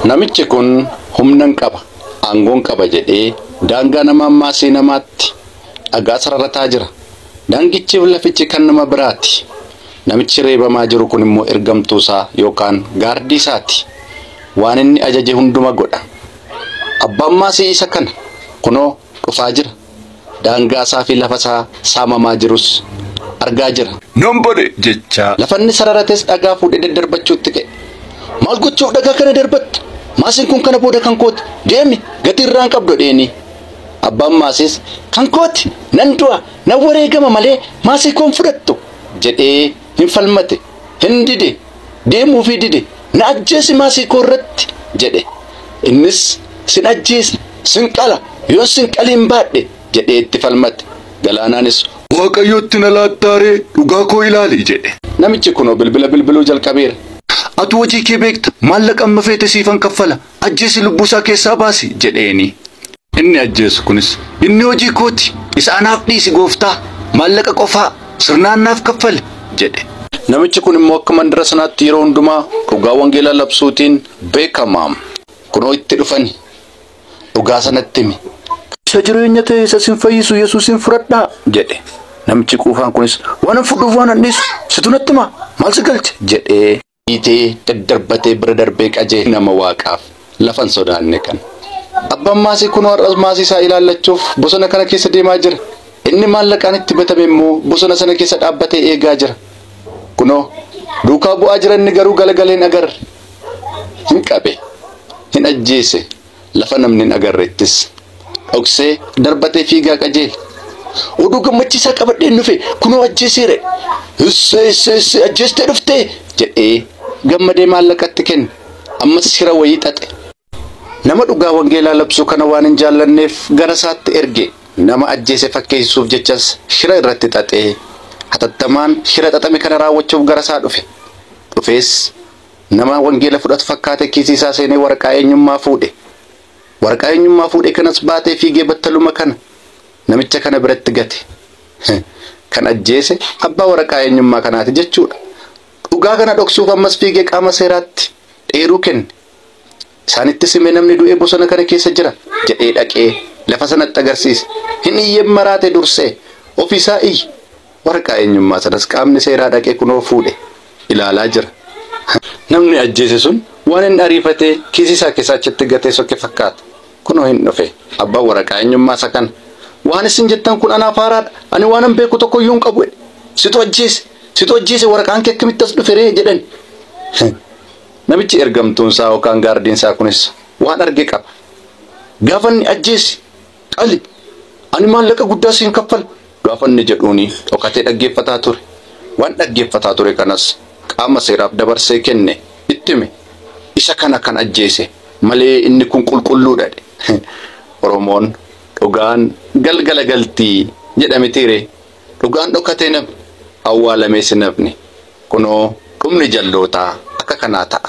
Namichi kun humnan qaba, aangoon qaba jedhee daangaa nama ammaasii namaatti dhagaa sararataa jira. Daangichiif lafichi kan nama biraati. Namichi reebamaa jiru kun immoo ergamtuusaa yookaan gaardiisaati. Waan inni ajaje hunduma godha. Abbaan maasii isa kana. Kunoo dhufaa jira. Daangaa isaa fi lafa isaa saamamaa jirus argaa jira. Non bode! jechaa. Lafa inni sararates dhagaa fuudhee daddarbachuutti ka'e. Maal gochuuf dhagaa kana darbatta? Maasiin kun kana booda kan kooti. Deemi! Gatii irraa hin qabdu jedheeni. Abbaan maasiis kan kooti! Nan du'a! Nan wareegama malee maasii koo hin fudhattu! jedhee. hin falmate, hin dide, deemuufii dide, na ajjeesi maasii koo irratti! jedhe. Innis, Sin ajjeesa, sin qala, yoon sin qaliin baadhe! jedhee itti falmate. Galaanaanis, Waaqayyotti na laattaa ree? Dhugaa koo ilaali! jedhe. Namichi kunoo bilbila bilbiluu jalqabeera. Atu hojii kee beekta, maallaqa amma feete siifan kaffala. Ajjeesi lubbuu isaa keessaa baasi! jedheeni. Inni ajjeesu kunis, Inni hojii koo ti, isa anaaf dhiisi Gooftaa! Maallaqa qofaa sirnaan naaf kaffali! jedhe. Namichi kun immoo akka mandara sanaatti yeroo hundumaa dhugaa wangeelaa labsuutiin beekama. Kunoo itti dhufani! Dhugaa sanatti himi! Isa jireenya ta'e, isa isin fayyisu Yesuusiin fudhadhaa! jedhe. Namichi quufaan kunis, Waanan fudhuuf waanan dhiisu situ natti himaa? Maal si galche? jedhe. dhiitee daddarbatee bira darbee qajee nama waaqaaf lafan sodaanne kan. Abbaan maasii kunoo har'as maasii isaa ilaallachuuf bosona kana keessa deemaa jira. Inni maallaqaan itti batame immoo bosona sana keessa dhaabbatee eegaa jira. Kunoo duukaa bu'aa jira inni garuu galagaleen agarre. Hin qabe. Hin ajjeese. Lafa namni hin agarrettis dhoksee darbatee fiigaa qajeele. Oduu gammachiisaa qabadheen dhufe kunoo ajjeeseera. Hissee hissee hissee ajjeestee dhuftee jedhee gammadee maallaqatti kenne. Ammas shira wayii xaxe. Nama dhugaa wangeelaa labsuu kana waan hin jaallanneef gara isaatti erge. Nama ajjeese fakkeessisuuf jechas shira irratti xaxee hatattamaan shira xaxame kana raawwachuuf gara isaa dhufe. Dhufees Nama wangeela fudhatu fakkaatee kiisii isaa seenee waraqaa eenyummaa fuudhe. Waraqaa eenyummaa fuudhe kanas baatee fiigee battaluma kana namicha kana biratti gate. Kan ajjeese abbaa waraqaa eenyummaa kanaati jechuudha. Dhugaa kana dhoksuuf ammas fiigee qaama seeraatti eeruu kenne. Isaanittis hime namni du'e bosona kana keessa jira jedhee dhaqee lafa sanatti agarsiise. Hin iyyem maraate dursee ofi isaa iyye. Waraqaa eenyummaa sanas qaamni seeraa dhaqee kunoo fuudhe ilaalaa jira. Namni ajjeese sun waan inni ariifatee kiisii isaa keessaa achitti gatee soke fakkaata. Kunoo hin dhufe. Abbaan waraqaa eenyummaa isa kana. Waan isin jettan kun anaaf haaraadha. Ani waanan beeku tokko iyyuu hin qabu jedhe. Situ ajjeese! Situ ajjeese! Waraqaan kee akkamitti as dhufe ree? jedhani. Namichi ergamtuun isaa yookaan gaardiin isaa kunis waan arge qaba. Gaafa inni ajjeesi, qali, ani maallaqa guddaa siin kaffala gaafa inni jedhuuni dhokatee dhaggeeffataa ture. Waan dhaggeeffataa ture kanas qaama seeraaf dabarsee kenne, itti hime. Isa kana kan ajjeese malee inni kun qulqulluu dha dhe. Oromoon dhugaan galgala galti jedha mitiiree? Dhugaan dhokatee nafni, awwaalamees hin hafne. Kunoo dhumni jallootaa akka kanaa ta'a.